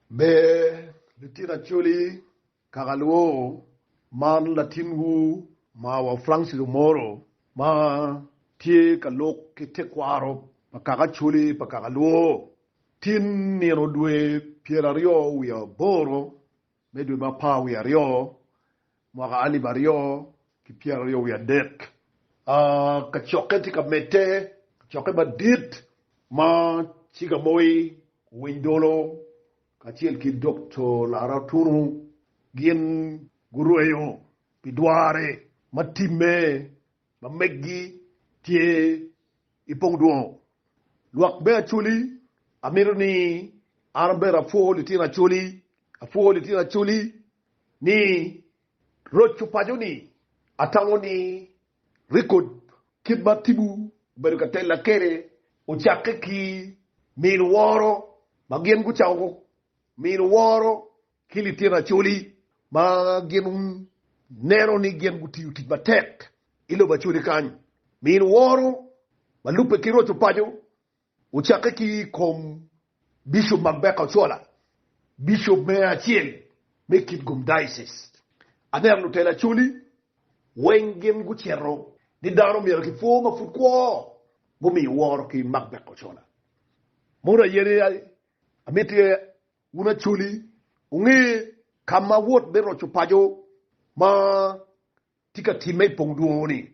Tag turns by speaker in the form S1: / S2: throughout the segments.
S1: Ber litino Acholi kaka luwo, Man latinwu mawa Francis Omoro ma tye ka lok ki tekwaro pa kaka Acholi pa kaka luwo. Tin nino dwe pyeraryo wiye aboro me dwe ma apar wiye aryo Mwaka alip aryo ki pyeraryo wiye adek, kacokke tye ka medde, kacokke madit ma Ciga Moi, Owiny Dolo kacel ki Dokto Lara Otunu gin gurweyo pi dwarre ma timme ma meggi tye i Pongdwongo. Lwak me Acholi, amito ni an bene apwo litino Acholi, apwo litino Acholi ni roco paco ni atamo ni rekod kit ma Tibu obedo ka tella kwede ocakke ki mino woro ma gin gucako mino woro ki litino Acholi ma gin neno ni gin gutiyo tic matek i lobo Acholi kany. Mino woro ma lubbe ki roco paco Ocakke ki i kom Bishop Magbeka Ochola, Bishop Meya acel me Kitgum Diocese. Aneno lutela Acholi weng gin gucito ni dano myero ki pwo ma pud kwo gumiyo woro ki Magbeka Ochola. Mono aye ni amiti wun Acholi wunge ka ma wot me roco paco ma tye ka timme i pong dwongo ni.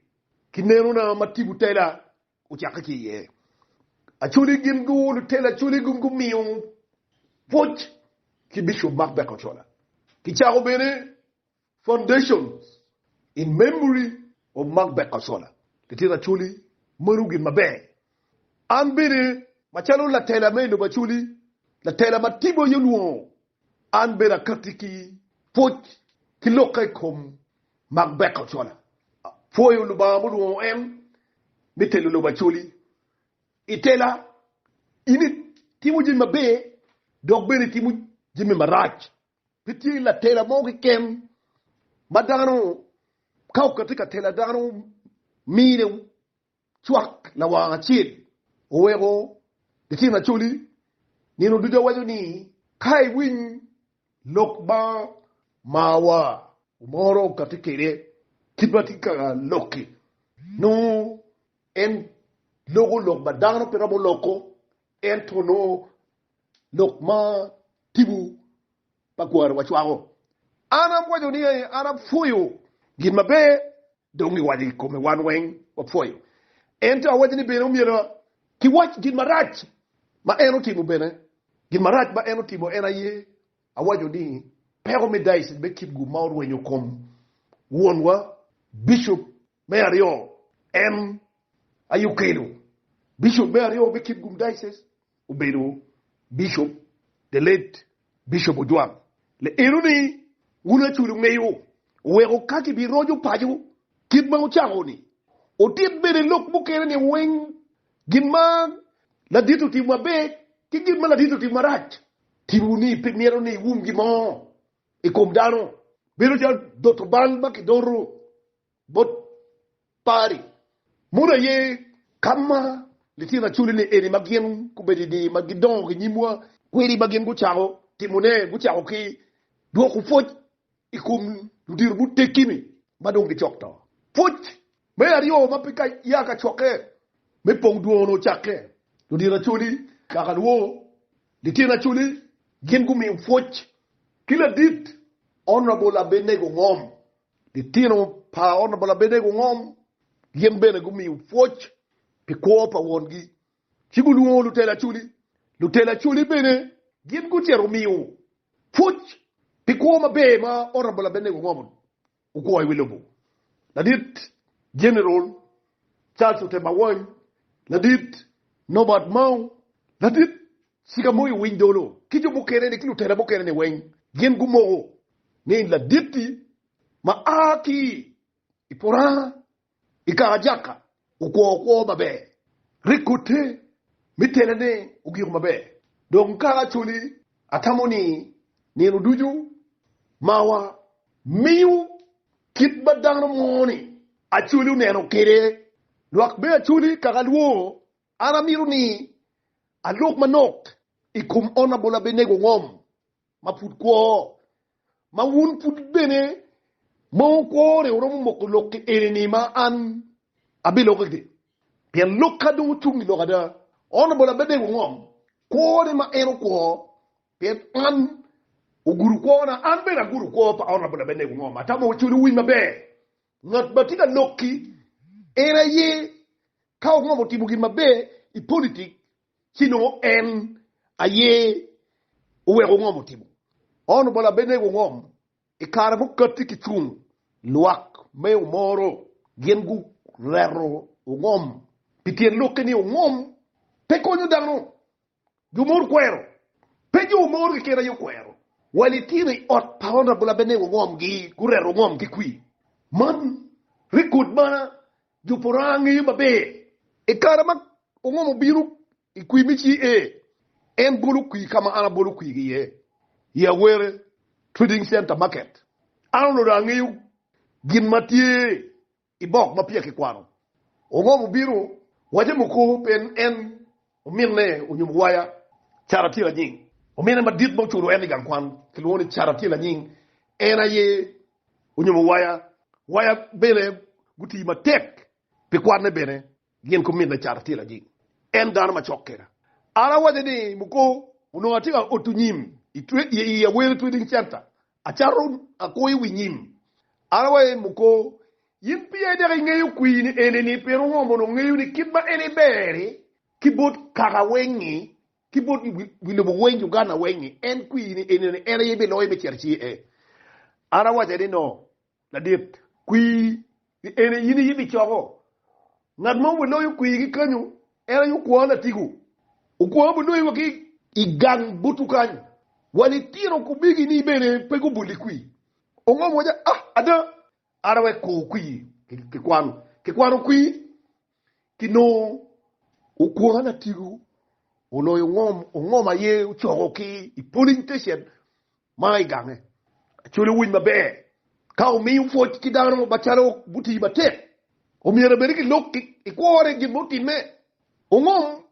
S1: Ki nenona ma tipo tela Ocakke ki iye, Acholi gin guolo telo Acholi gin gumiyo pwoc ki Bishop Mark Becker Ochola. Kicako bene Foundations in Memory of Mark Becker Ochola. Litino Acholi meno gin maber. An bene macalo latela me i lobo Acholi, latela ma Tibo aye olwongo An bene akatti ki pwoc ki lok ka i kom mak Becca Ochola. Apwoyo Lubanga mulwongo en me telo lobo Acholi. I tela, in itimo jami maber dok bene itimo jami marac. Pe tye latela mo keken ma dano ka okatti ka tela dano mine cwak lawang acel oweko litino acholi nino ducu awaco ni, Ka iwiny lok ma marwa moro okatti kwede kit ma atye ka lok-ki, nongo en loko lok ma dano pe romo loko, ento nongo lok ma tipo pa kwari wa cwako. An apwoyo ni aye an apwoyo gin maber dong i waco i kome wan weng wapwoyo ento awaco ni bene omyero ki wac gin marac ma en otimo bene gin marac ma en otimo en aye awaco ni peko me diocese me Kipgum ma orwenyo kom wonwa Bishop Me aryo, en aye okelo Bishop me aryo me Kitgum Diocese obedo Bishop the late Bishop Ojwang. Le eno ni wun Acholi ongeyo oweko ka ki bi roco paco kit ma wucako ni otit bene lok mukene ni weng gin ma ladit otimo maber ki gin ma ladit otimo marac ti wu ni pe mito ni iwum gin mo ikom dano. Bedo calo doto bal ma ki doto Bot pari mono aye ka ma litino acolli-ni eni ma gin gubedo-ni ma gidongo ki nyimwa kwedi ma gin gucako timone? Gucako ki dwoko pwoc i kom ludito muteggi-ni ma dong gicok to. Pwoc me aryo ma pe ya ka cokke me pong dwongo-nu ocakke. Ludito acolli kaka lwo litino acolli gin gumiyo pwoc ki ladit Honourable Abednego Ngom Litino pa ot labolle abene gungom, gin bene gumiyo pwoc pi kwo pa wongi, ci gulwongo lutela acoli. Lutela acoli bene gin gucito gumiyo pwoc pi kwo maber ma ot labolle abene gungomo gukwo i wi lobo. Ladit Jeneral Charles Otema Wony, Ladit Norbert Mao, Ladit. Cigamoyo winy dolo ki jo mukene-ni ki lutela mukene-ni weng gin gumoko ni ladit-ti ma a ki i puranga i kaka Jakka okwo kwo maber. Rik ote me telane ogiko maber. Dong kaka Acholi atamo ni nino ducu mawa miyo kit ma dano mo-ni Acholi oneno kwede lwak me Acholi kaka alwongo An amito ni alok manok i kom Honourable Abenego Ngom ma pud kwo, ma wun pud bene ma wukwone wuromo moko lokki eni-ni ma an abiloko gire, pien lok ka dong ocung i lok ada, Honourable Abenego Ngom kwone ma en okwo pien an ogudo kwona, an bene agudo kwo pa Honourable Abenego Ngom, atamo codo winy maber Ngat ma tye ka lok-ki en aye ka ongomo timo gin maber i politik ci nongo en aye oweko ongomo timo. Ono bala Abednego ongom i kare mukati ki cung lwak me omoro gin gureto ongom pi tyen lokke ni ongom pe konyo dano Jo mono kwero. Pe jo mono keken aye okwero. Wa litino i ot pa Honourable Abednego Ongomgi, gureto Ongom ki kwir. Man record ma jo Pora ngeyo maber. I kare ma Ongom obino i kwir me CA, en bolo kwir ka ma an abolo kwir iye, i Awere Trading Centre Market. An onongo dong angeyo gin ma tye I bok ma peya kikwano, ongom obino waco muku pien en ominne onyumo waya. Cara tye lanying. Ominne madit ma oculo en i gang kwan kilwongo ni Cara tye lanying. En aye onyumo waya. Waya bene gutii matek pi kwanne bene gin ku minne Cara tye lanying. En dano macok kena. An awaco ni muku onongo atye ka oto nyim i Aweri Trading Center Acato akwo i wi nyim. An awaco i muko, Yin piye dek ingeyo kwini enini, pien ongo mono ngeyo ni kit ma en iber-ri ki bot kaka weng-ngi, ki bot wi lobo weng-ngi, Uganda weng-ngi, en kwini enini en aye biloyo me cito ci-e? An awace ni, No, Ladit kwir ni en aye in aye gicoko. Ngat mo bene loyo kwir gi kanyo, en aye okwo latigo. Okwo bene loyo wa ki i gang butu kany. Wa litino kubigi ni bene pe gubol i kwir. Ongom waco, Ah, ada, ada wek ko kwir kikwano. Kikwano kwir, kinongo okwo latigo oloyo ongom. Ongom aye ocoko ki i polling station Ma i gange acwele owiny maber. Ka wumiyo pwoc ki dano macalo gutii matek, omyero bene ki lok i kwore gin ma otimme, ongom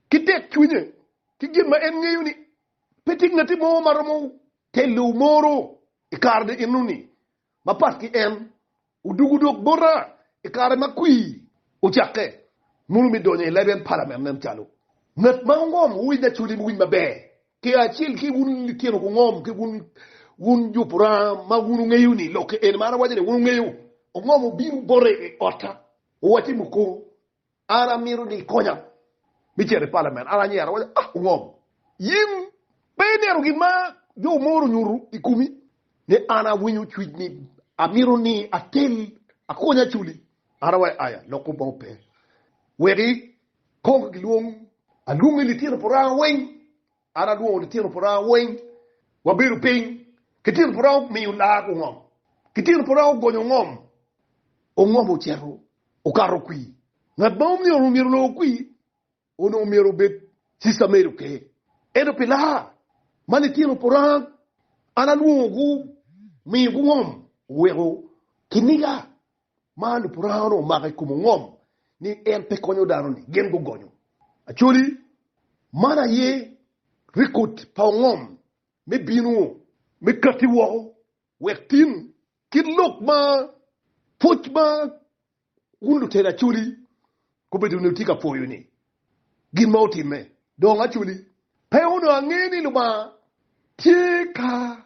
S1: ki tek cwinye ki gin ma en ngeyo ni pe tye ngati mo ma romo telo moro i kare ni eno ni. Mapat ki en, odugo dok bota i kare ma kwir ocakke. Munu me donyo i leben palamen nen calo ngat ma ongom winy acoli me winy maber ki acel ki wun litino gungom ki wun, wun jo puranga ma wun wungeyo ni lok eni ma an awaco ni wun wungeyo ongom obino bota i wi otta, owacce muko An amito ni ikonya me cito i palament. An anyero awaco, Ah, Ongom, in pe ineno gin ma jo omoro onyuto i komi? Ni an awinyo cwiny ni amito ni atel akonya aculi. An awaco, Aya, lok kop ma ope. Wek ikong gilwong alwongi litino pa Oranga weng. An alwongo litino puranga weng, wabedo piny, litino puranga omiyo lak ongom, litino puranga ogonyo ongom, ongom ocito okato kwir. Ngat ma omyero myero olor kwir onongo myero obed Cista Mary Oker. Ento pi laa ma litino puranga an alwongo gumiyo gungom, oweko kiniga. Ma lupurango-nu omako i kom ongom ni en pe konyo dano-ni, gin gugonyo. Actually, man aye rekod pa ongom me bino me katti woko wek tin kit lok ma pwoc ma wun lutela actually gubedo ni wutye ka pwoyo-ni gin ma otimme. Dong actually, pe onongo ange ni Lubanga tye ka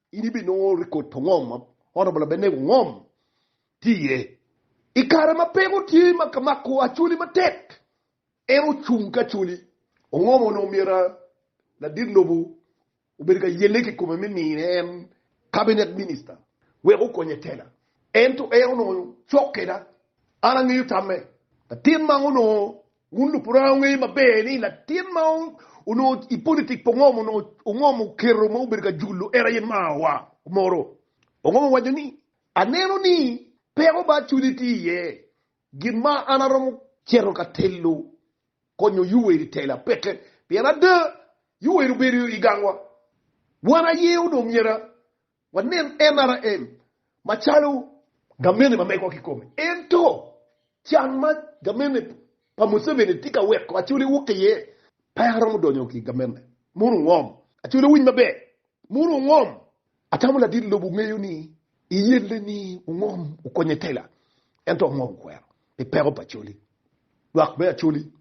S1: In ibinongo rikod pa ngom ma Honorable Abenego Ngom tye iye. I kare ma peko tye ma ka mako Acholi matek, en ocung ki Acholi. Ongom onongo myero ladit lobo obed ka yelle ki kome me mine en Cabinet Minister wek okonye tela. Ento en onongo cok keda. An angeyo tamme. Latin man onongo Wun lupuranga wungeyo maber ni latin ma onongo i politik pa Ongom onongo Ongom oketo ma obedo ka julo en aye Maa wa moro. Ongom owaco ni, Aneno ni peko ma acwili tye iye, gin ma an aromo cito ka telo konyo Yoweri tela peke pien ada Yoweri obedo i gangwa. Wan aye onongo myero Wanen NRM macalo gamente ma megowa kikome. Ento can ma gamente pa Museveni tye ka weko Acholi wok iye, pe aromo donyo ki gamente munu ongom. Acholi owiny maber, munu ongom. Atamo ladit lobo ongeyo ni iyelle ni ongom okonye tela, ento ongom okwero pi peko pa Acholi. Lwak me Acholi,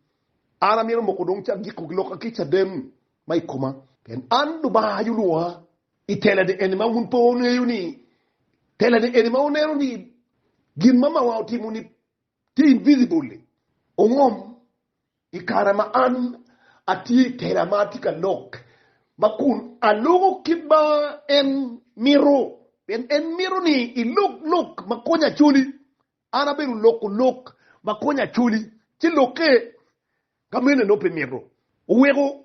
S1: an amito moko dong cagiko ki loka ki caden ma ikoma, pien an Lubanga aye olwoka. I telane eni ma wun pe wungeyo ni, telane eni ma wuneno ni gin ma mawa otimo ni tye invisible-li ongom i kare ma an atye i tela ma atye ka lok ma kun aluko kit ma en mito, pien en mito ni ilok lok ma konyo acoli An abedo loko lok ma konyo Acholi, ci lokke ka mene nongo pe mito. Oweko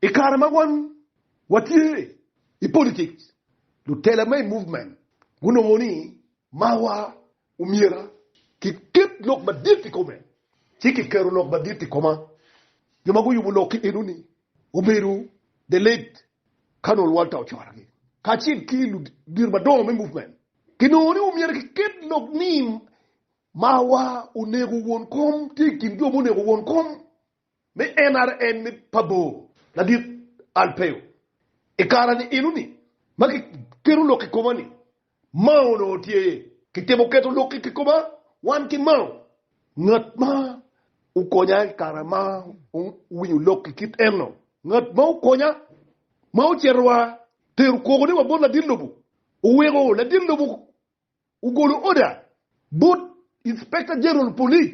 S1: i kare ma wan watye i politics, lutela ma i movement gunongo ni marwa omyera kiket lok madit i kome, ci kiketo lok madit i koma. Jo ma guyubo lok-ki enoni obedo the late Ka nongo lualta ocorogi kacel ki ludito madongo me muvmen, kinongo ni omyero kiket lok ni marwa onego won kom tye i kin jo ma onego won kom me NRM me pabor. Ladit Alpeo, i kare-ni enoni ma kiketo lok i koma-ni, Mao onongo tye ki timo keto lok i kikoma wan ki Mao, ngat ma okonya i kare ma owinyo lok i kit eno, ngat ma okonya ma ocito wa tero kogone wa bot ladit lobo, oweko ladit lobo ogolo order bot Inspector General Police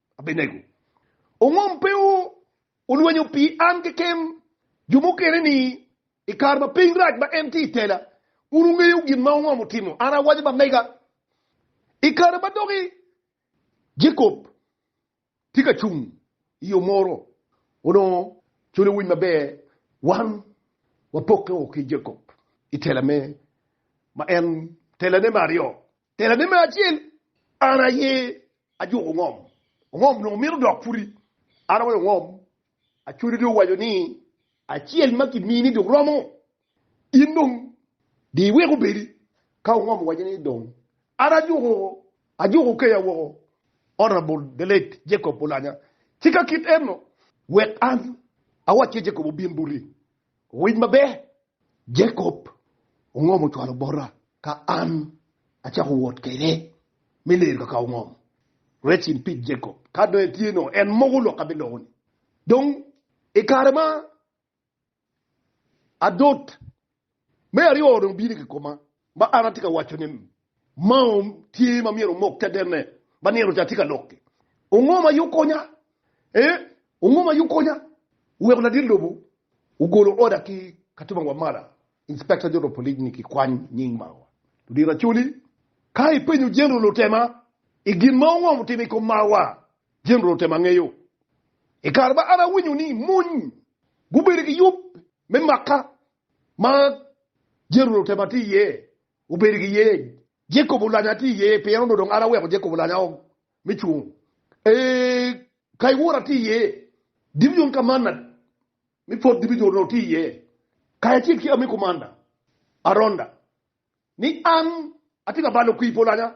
S1: Abenego ongom pe olwenyo pi an keken. Jo mukene ni, I kare ma piny rac ma en tye i tela, un wungeyo gin ma ongom otimo. An awaco ba mega, i kare ma doki Jacob tye ka cung i yo moro, onongo calo owiny maber wan wapokke woko ki Jacob i tela me ma en telane me aryo. Tela ne me acel, An aye ajuko ongom. Ongom onongo mito dok puti. An aweyo ongom. Acwani dong owaco ni acel ma kimini dong romo. In dong di iwek obedi. Ka ongom owaco ni dong an ajuko, ajuko okeya woko. Honourable the late Jacob Olanya, tika kit eno wek an awacce Jacob obin buti. Owic maber, Jacob ongom ocwalo bota ka an acako wot kwede me lero kaka ongom. Rest in peace Jacob, ka dong itye no en moko lok ka biloko ni dong i kare ma adot me aryo dong bino ki koma ma an atye ka waco ni Maom tye ma myero omok tedenne ba nino ca tye ka lok-ki. Ongo ma yub konya? Ee, ongo ma yub konya? Oweko ladit lobo ogolo oda ki Katuba Wamala, Inspector General of Police ni kikwany nying Marwa. Ludito Acholi, ka ipenyo General Lutema i gin ma ongo mutimo i kom Marwa, General Lutema ngeyo. I kare ma an awinyo ni mony gubedo ki yub me makka ma General Lutema tye iye, Wubedo ki yeny. Jacob olanya atir iye, pien onongo dong an aweko Jacob olanya o me cung. Ee, ka iwora atir iye, Gibeon ka manna me pwod dibi nyo onongo tye iye, kayo acel ki ami kumanna Aronda ni an atye ka balo kwir pa olanya.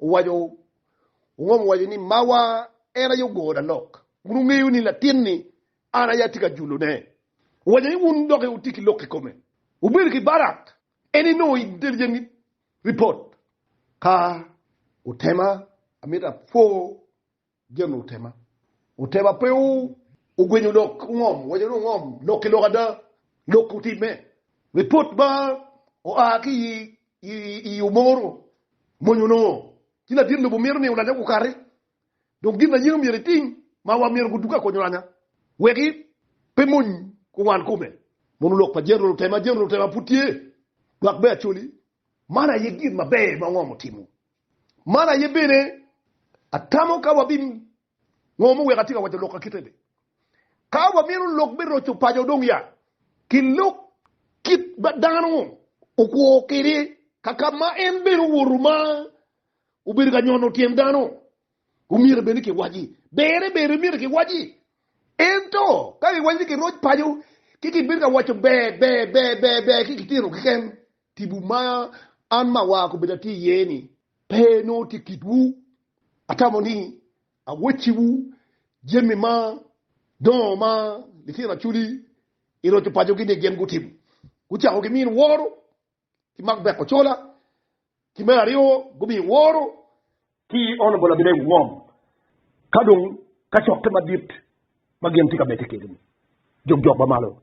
S1: Owaco, Ongom owaco ni, Mawa en aye ogo na lok. Wun wungeyo ni latin-ni an aye atye ka julone. Owaco ni, Wun doki wutye ki lok kikome. Wubedo ki Barak en ni nongo i Deljamit ripot. Ka wutema, amito apwo. Gen. Otema otema pe ogwenyo lok ongom, waco ni ongom lok ki lok ada. Lok otimme. Ripot ma oa ki i Omoro mony onongo ci ladit lobo mito ni olanya gukati dong gin aye omyero etim ma wa myero guduga kony olanya weki pe mony kuwan kome. Mono lok pa General Otema, General Otema pud tye dwak me Acholi. Man aye gin maber ma ongom otimo Man aye bene atamo ka wabingomo wek atye ka waco lok akite ni, Ka wamito lok me roco paco dong ya kilok kit ma dano okwo kwede kaka ma en bene owoto ma obedo ka nyono tyen dano. Omyero bene kiwaci, Berre ber omyero kiwaci. Ento ka kiwaco ni kiroc paco ki kibedo ka waco ber ber ber ber ber ki kitino keken, Tipo ma an ma awar kobedo atye iye ni pe nongo tye kitwu. Atamo ni awecciwu jami ma dongo ma litino Acholi i roco pacogi ni gin gutimo. Gucako ki mino woro ki mak beko cola, ki me aryo gumiyo woro ki ono bolo gine iwi ngom ka dong kacokke madit ma gin tye ka medde kwede-ni. Jokjok ma malo.